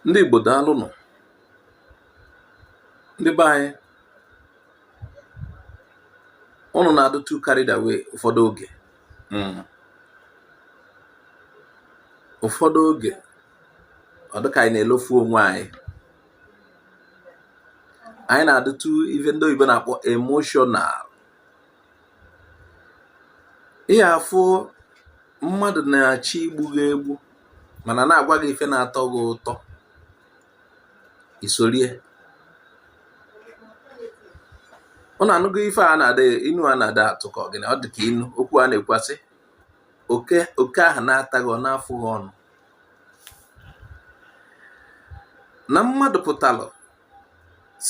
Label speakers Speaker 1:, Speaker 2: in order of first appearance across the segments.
Speaker 1: ndị Igbo daalụ nụ ndị be anyị ụnụ na-adụ too carried away ụfọdụ oge hmm. ụfọdụ oge ọ dịka anyị na-elofu onwe anyị anyị na-adụ too ife ndị oyibo na-akpọ emotional ị ga-afụ mmadụ na-achọ igbu gị egbu mana na-agwa gị ife na-atọ gị ụtọ i sorie ụnụ anụgo ife a na-ada inu a na-ada atụ ka ọ gịnị ọ dị ka inu okwu a na-ekwu asị oke ahụ na-ata gị ọ na-afụ gị ọnụ na mmadụ pụtalụ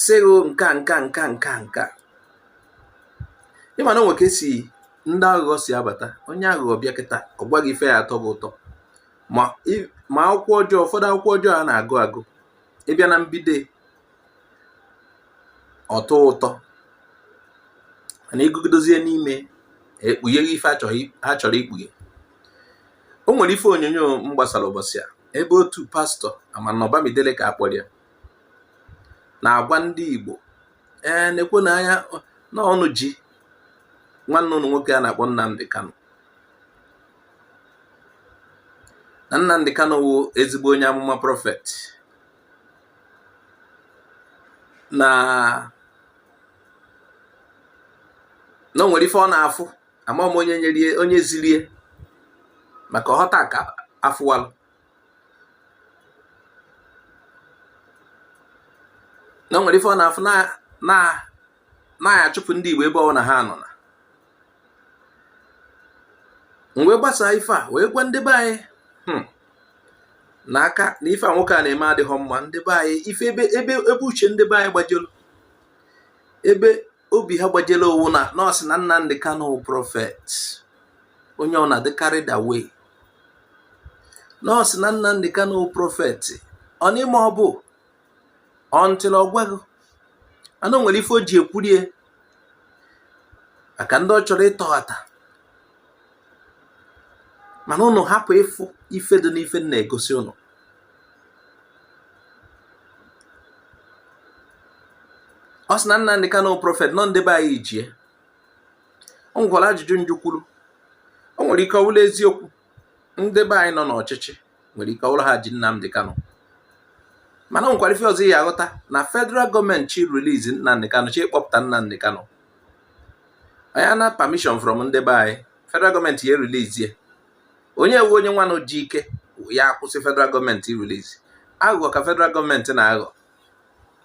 Speaker 1: sị gị nka nka nka nka nka ị ma na o nwe ka esi ndị aghụghọ si abata onye aghụghọ bịa kịta ọ gwa gị ife ya-atọ gị ụtọ ma akwụkwọ ọjọọ ụfọdụ akwụkwọ ọjọọ a na-agụ agụ ị bịa na mbido ọ tọọ ụtọ mana ị gụgidezie n'ime e kpughe gị ife ha chọrọ ikpughe o nwere ife onyonyo m gbasara ụbọchị a ebe otu pastọ ama na ọ Bamidele ka a kpọrọ ya na-agwa ndị Igbo ee na-ekwu na anya na ọ ụnụ ji nwanne ụnụ nwoke a na-akpọ Nnamdi Kanu na Nnamdi Kanu wụ ezigbo onye amụma prọfet na na o nwere ife ọ na-afụ ama m onye nyerie onye zirie maka ọ họta ka afụwalụ na o nwere ife ọ na-afụ na a ya-achụpụ ndị Igbo ebe ọwụna ha nọ na m wee gbasaa ife a wee gwa ndị be anyị hmm, na aka na ife a nwoke a na-eme adịghọ mma ndị be anyị ife ebe ebe uche ndị be anyị gbajelu ebe obi ha gbajere ọ wụ na na ọ sị na Nnamdi Kanu wụ prọfet onye ọwụna adị carried away na ọ sị na Nnamdi Kanu wụ prọfet ọ n'ime ọ bụ until ọ gwago na o nwere ife o ji ekwurie maka ndị ọ chọrọ ịtọghata mana ụnụ hapụ ịfụ ife dị n'ife na-egosi ụnụ ọ sị na Nnamdi Kanu prọfet na ọ ndị be anyị ji e o nwekwara ajụjụ m jụkwuru o nwere ike ọ wụla eziokwu ndị be anyị nọ n'ọchịchị nwere ike ọ wụla ha ji Nnamdi Kanu mana o nwekwara ife ọzọ ị ya-aghọta na federal gọọmenti chọ ị release Nnamdi Kanu chọ ịkpọpụta Nnamdi Kanu onye na permission from ndị be anyị federal gọọmenti ya-erelease e onye ewu onye nwanụ ji ike ya akwụsị federal gọọmenti release aghụghọ ka federal gọọmenti na-aghọ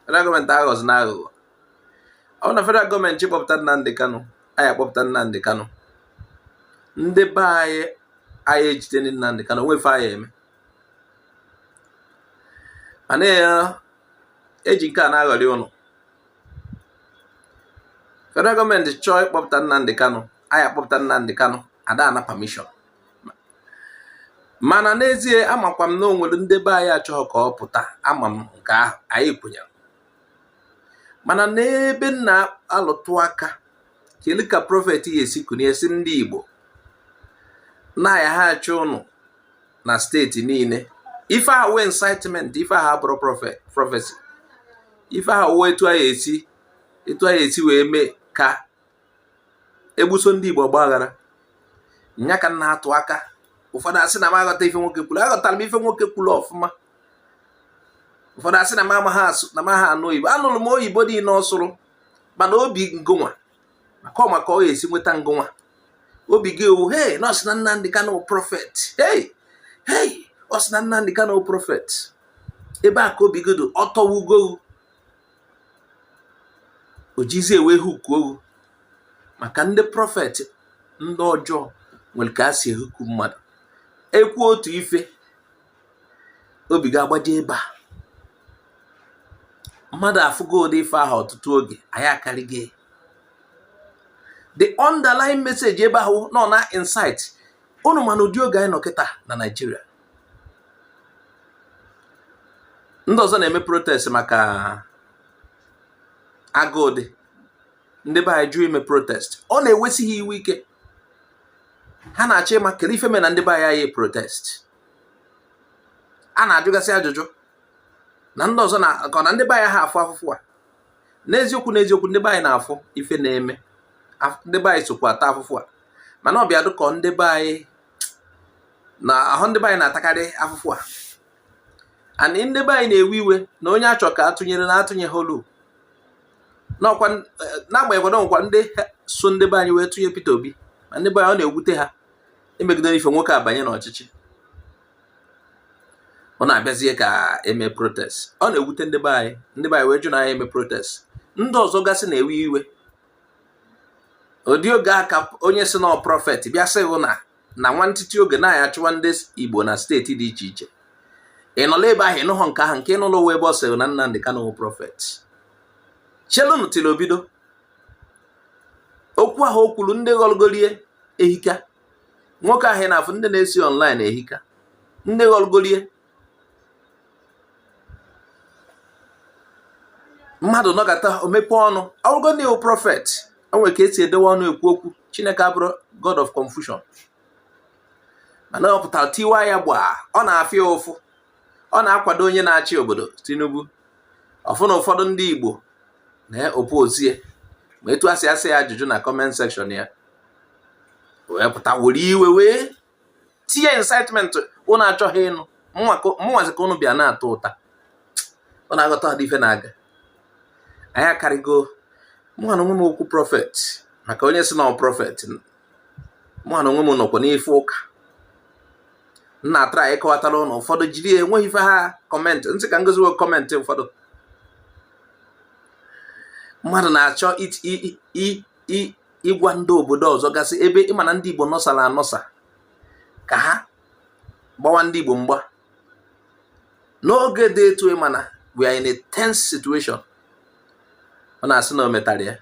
Speaker 1: federal gọọmenti aghọzina aghụghọ ọ na federal gọọmenti chọọ ịkpọpụta Nnamdi Kanu a ya-akpọpụta Nnamdi Kanu ndị be anyị anyị ejide Nnamdi Kanu o nwe ife a ya-eme mana eji nke a na-aghọrị ụnụ federal gọọmenti chọọ ịkpọpụta Nnamdi Kanu a ya-akpọpụta Nnamdi Kanu a da ana permission mana n'ezie amakwa m na o nwere ndị be anyị achọghị ka ọ pụta ama m nke ahụ anyị kwenyere mana n'ebe m na-alụtụ aka kele ka prọfet ya-esi kunie sị ndị Igbo na a ya-achụ ụnụ na steeti niile ife ahụ wụ incitement ife ahụ abụrọ prọfesi ife ahụ wụ etu a ya-esi wee mee ka egbuso ndị Igbo ọgbaghara nya ka m na-atụ aka ụfọdụ asị na m aghọta ife nwoke kwuru aghọtara m ife nwoke kwuru ọfụma ụfọdụ asị na m amaghị asụ na m aha anụ oyibo anụrụ m oyibo niile ọ sụrụ mana obi ngụnwa maka ọ maka ọ ya-esi nweta ngụnwa obi gị owu hei na ọ sị na Nnamdi Kanu prọfet hei hei ọ sị na Nnamdi Kanu prọfet ebe a ka obi gị dị ọtọwugowu o jizie wee huku owu maka ndị prọfet ndị ọjọọ nwere ka a si ehuku mmadụ ekwu otu ife obi gị agbaje ebe a mmadụ afụgo ụdị ife ahụ ọtụtụ oge anyị akarịgo the underlying message ebe ahụ na ọ na-incite unu mana ụdị oge anyị nọ kịta na Naịjirịa ndị ọzọ na-eme protest maka agụụ dị ndị be anyị jụ ime protest ọ na-ewesi ha iwe ike ha na-achọ ịma kele ife me na ndị be anyị aya protest a na-ajụgasị ajụjụ na ndị ọzọ na ka na ndị be anyị aha afụ afụfụ a n'eziokwu n'eziokwu ndị be anyị na-afụ ife na-eme ndị be anyị sokwa ata afụfụ a mana ọ bịa dị ka ọ ndị be anyị na ahụ ndị be anyị na-atakarị afụfụ a and ndị be anyị na-ewe iwe na onye a chọ ka a tụnyere na atụnyeholu n'ọkwa eh, n'agbanyeghị na e nwekwa ndị so ndị be anyị wee tụnye Peter Obi ma ndị be anyị ọ na-ewute ha emegidere ife nwoke a banye n'ọchịchị unu abịazie ka eme protest ọ na-ewute ndị be anyị ndị be anyị wee jụ na anyị eme protest ndị ọzọ gasị na-ewe iwe ụdị oge a ka onye sị na ọ prophet bịa sị gị na na nwantịtị oge na a ya-achụwa ndị Igbo na steeti dị iche iche ị nọla ebe ahụ ị nụhọ nke ahụ nke ị nụlụ wụ ebe ọ sịrị na Nnamdi Kanu wụ prophet chelụnụ ntị na obido okwu ahụ o kwuru ndị ghọlgolie ehika nwoke ahụ na-afụ ndị na-esi online ehika ndị ghọlgolie mmadụ nọgata o mepe ọnụ ọ gwa gị na ya wụ prophet o nwere ka esi edewe ọnụ ekwu okwu chineke abụrọ god of confusion mana ọ pụtara tiwa ya gbaa ọ na-afụ ya ụfụ ọ na-akwado onye na-achị obodo tinubu ọ fụ na ụfọdụ ndị igbo na-oppose ya ma etu asị asị ya ajụjụ na comment section ya wee pụta were iwe wee tinye incitement unu achọhọ ịnụ mụnwazi ka unu bịa na-ata ụta unu aghọtahọdị ife na-aga anyị akarịgo mụnwa na onwe m okwu prophet maka onye sị na ọ prophet mụnwa na onwe m nọkwa n'ife ụka na-atry ịkọwatara ụnụ ụfọdụ jiri ya enweghị ife ha comment m sị ka m gosi unu comment ụfọdụ mmadụ na-achọ ịgwa ndị obodo ọzọ gasị ebe ị ma na ndị Igbo nọsara anọsa ka ha gbawa ndị Igbo mgba n'oge dị etu ị ma na we are in a tense situation ọ na-asị na o metara ya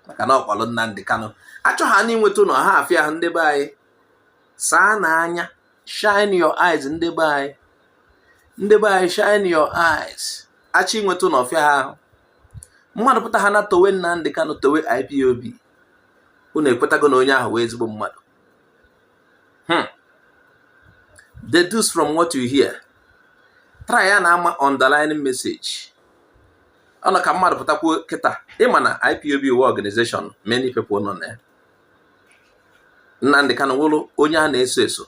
Speaker 1: maka na ọ kpọrọ Nnamdi Kanu achọ ha n'inweta unu ha afịa ahụ ndị be anyị saanụ anya shine your eyes ndị be anyị ndị be anyị shine your eyes achọ inweta unu ọfịa ahụ mmadụ pụta ha na towe Nnamdi Kanu towe IPOB unu ekwetago na onye ahụ wụ ezigbo mmadụ hmm. deduce from what you hear try na-ama underlying message ọ nọ ka mmadụ pụta kwuo kịta ị ma na IPOB wụ organization many people nọ na ya Nnamdi Kanu wụrụ onye a na-eso eso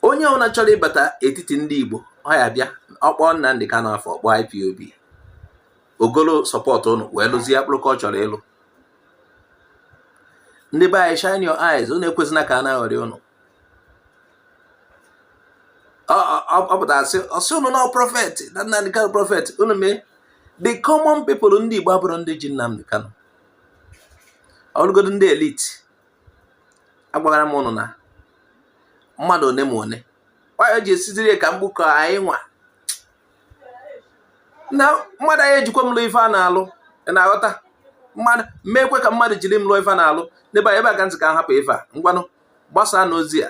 Speaker 1: onye ọbụla chọrọ ịbata etiti ndị Igbo ọ ya-abịa ọ kpọọ Nnamdi Kanu afa ọ kpọọ IPOB o golo support ụnụ wee lụzie akpụrụ ka ọ chọrọ ịlụ ndị be anyị shine your eyes ụnụ ekwezina ka a na-aghọrị ụnụ ọ pụtara asị ọ sị ụnụ na ọ prophet na Nnamdi Kanu prophet ụnụ mee the common people ndị Igbo abụrụ ndị ji Nnamdi Kanu o lugodu ndị elite agwara m ụnụ na mmadụ one ma one anyị ji esiziri ya ka m gbukọ anyị nwa na mmadụ anyị ejikwa m lụ ife a na-alụ ị na-aghọta mmadụ meekwe ka mmadụ jiri m lụọ ife a na-alụ ndị be anyị ebe a ka m sị ka m hapụ ife a ngwanụ gbasaanụ ozi a